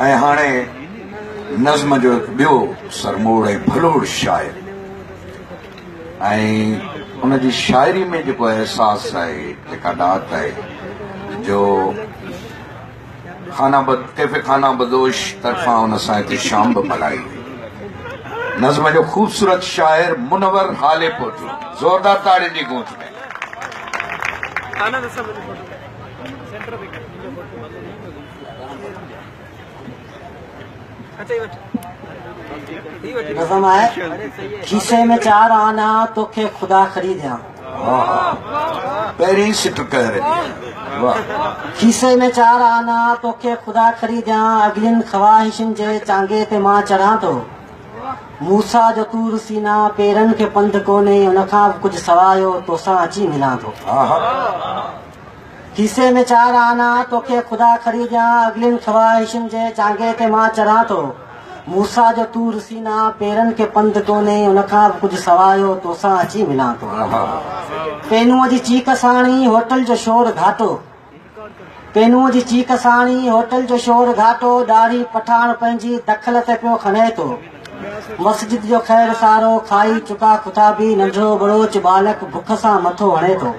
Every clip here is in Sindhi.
۽ هاڻي نظم جو هڪ ٻيو سرموڙ ۽ ڀلوڙ شاعر ۽ ان جي شاعري ۾ جيڪو احساس آهي جيڪا ڏات آهي جو خانہ بد کيفي خانہ بدوش طرفان ان سان هتي شام به ملائي نظم جو خوبصورت شاعر منور حالي پور جو زوردار تاڙين جي گونج ۾ نظم آهي کيسي ۾ چار آنا توکي خدا خريديا پهرين سٽ ڪهر کيسي ۾ چار آنا توکي خدا خريديا اگلين خواهشن جي چانگي تي مان چڙهان ٿو موسيٰ جو طور سيناء پيرن کي پنڌ ڪونهي ان کان به ڪجهه سواء اهو توسان اچي ملان ٿو کيسي ۾ چار آنا توکي خدا کري ڏيان اڳلين خواهشن جي چانگي تي مان چران ٿو موسيٰ جو طور سيناء پيرن کي پنڌ ڪونهي ان کان به ڪجهه سواء اهو توسان اچي ملان ٿو پينوء جي چيڪ ساڻي هوٽل جو شور گهاٽو پينوء جي چيڪ ساڻ ئي هوٽل جو شور گهاٽو ڏاڙهي پٺاڻ پنهنجي دخل تي پيو کنهي ٿو. مسجد جو خير سارو کائي چڪا کٿابي ننڍڙو ٻڙوچ ٻالڪ بک سان مٿو هڻي ٿو.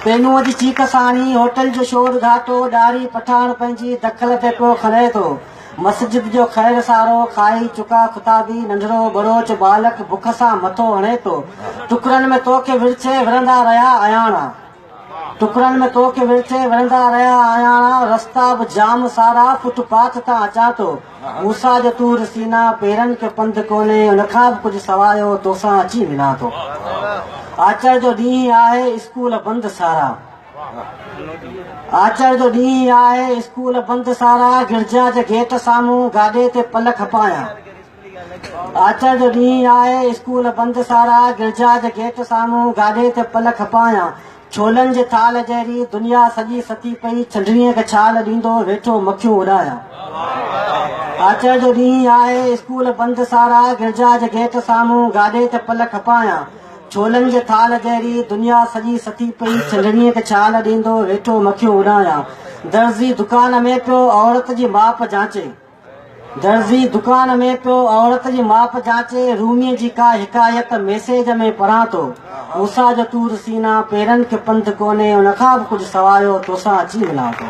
پينوء جي چيڪ ساڻ ئي هوٽل جو شور گهاٽو ڏاڙهي پٺاڻ پنهنجي دخل تي پيو کنهي ٿو. مسجد جو خير سارو کائي چڪا خطابي ننڍڙو ٻروچ ٻالڪ بک سان مٿو هڻي ٿو ٽڪرن ۾ تو کي ورڇي ورندا رهيا آهياڻا ٽڪرن ۾ تو کي ورڇي ورندا رهيا آهياڻا رستا به جام سارا فٽ پاٿ تان اچان ٿو موسيٰ جو طور سينا پيرن کي پنڌ ڪونهي ان کان به ڪجهه سوايو توسان اچي ملان ٿو آچر جو ڏينهن آهي اسڪول بند سارا آچر جو ڏينهن آهي، اسڪول بند سارا، گرجا جي گيٽ سامهون گاڏي تي پل کپايان. آچر جو ڏينهن آهي، اسڪول بند سارا، گرجا جي گيٽ سامهون گاڏي تي پل کپايان. ڇولن جي ٿالهه جهڙي دنيا سڄي ستي پئي، ڇنڊڻيء کي ڇال ڏيندو ويٺو مکيون اڏايان. آچر جو ڏينهن آهي، اسڪول بند سارا، گرجا جي گيٽ سامهون گاڏي تي پل کپايان. ڇولن جي ٿالهه جهڙي دنيا سڄي ستي پئي چنڊڻيء کي ڇال ڏيندو ويٺو مکيون اڏايان درزي دڪان ۾ پيو عورت جي ماپ جانچي درزي دڪان ۾ پيو عورت جي ماپ جانچي روميء جي ڪا حڪايت ميسيج ۾ پڙهان ٿو موسيٰ جو طور سينا پيرن کي پنڌ ڪونهي ان کان به ڪجهه سوايو توسان اچي ملان ٿو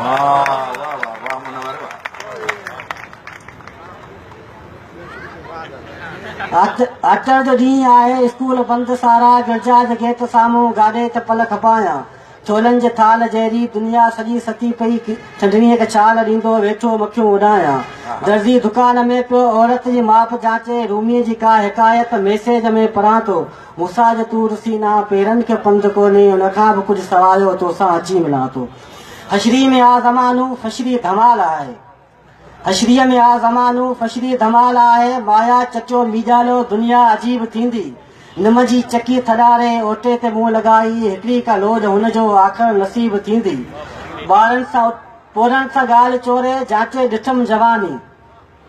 آچر جو ڏينهن آهي، اسڪول بند سارا، گرجا جي گيٽ سامهون گاڏي ته پل کپايان، چولن جي ٿالهه جهڙي دنيا سڄي ستي پئي، چنڊڻيء کي ڇال ڏيندو ويٺو مکيون اڏايان، درزي دڪان ۾ پيو عورت جي ماپ جانچي، روميء جي ڪا حڪايت ميسيج ۾ پڙهان ٿو، موسيٰ جو طور سينا، پيرن کي پنڌ ڪونهي، ان کان به ڪجهه سوايو، توسان اچي ملان ٿو. حشري ۾ آ زمانو، فشري ڌمال آهي. حشريء ۾ آ زمانو فشري ڌمال آهي مايا چٽيو ميڄالو دنيا عجيب ٿيندي نم جي چڪي ٿڏاري اوٽي تي منهن لڳائي هڪڙي ڪا لوڏ هن جو آخر نصيب ٿيندي ٻارن سان پورهن سان ڳالهه چوري جانچي ڏٺم جواني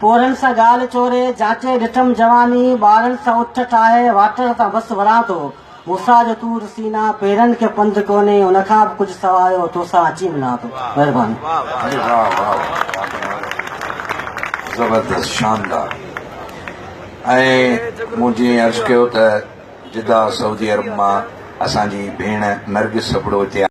پورهن سان ڳالهه چوري جانچي ڏٺم جواني ٻارن سان اٺ ٺاهي واٽر تان بس وران ٿو موسيٰ جو طور سيناء پيرن کي پنڌ ڪونهي ان کان به ڪجهه سوا آيو توسان اچي ملان ٿو مهرباني. زبردست شاندار ۽ مون جي عرض ڪيو ته جده سعودي عرب مان اسان جي ڀيڻ نرگس ابڙو هتي آئي.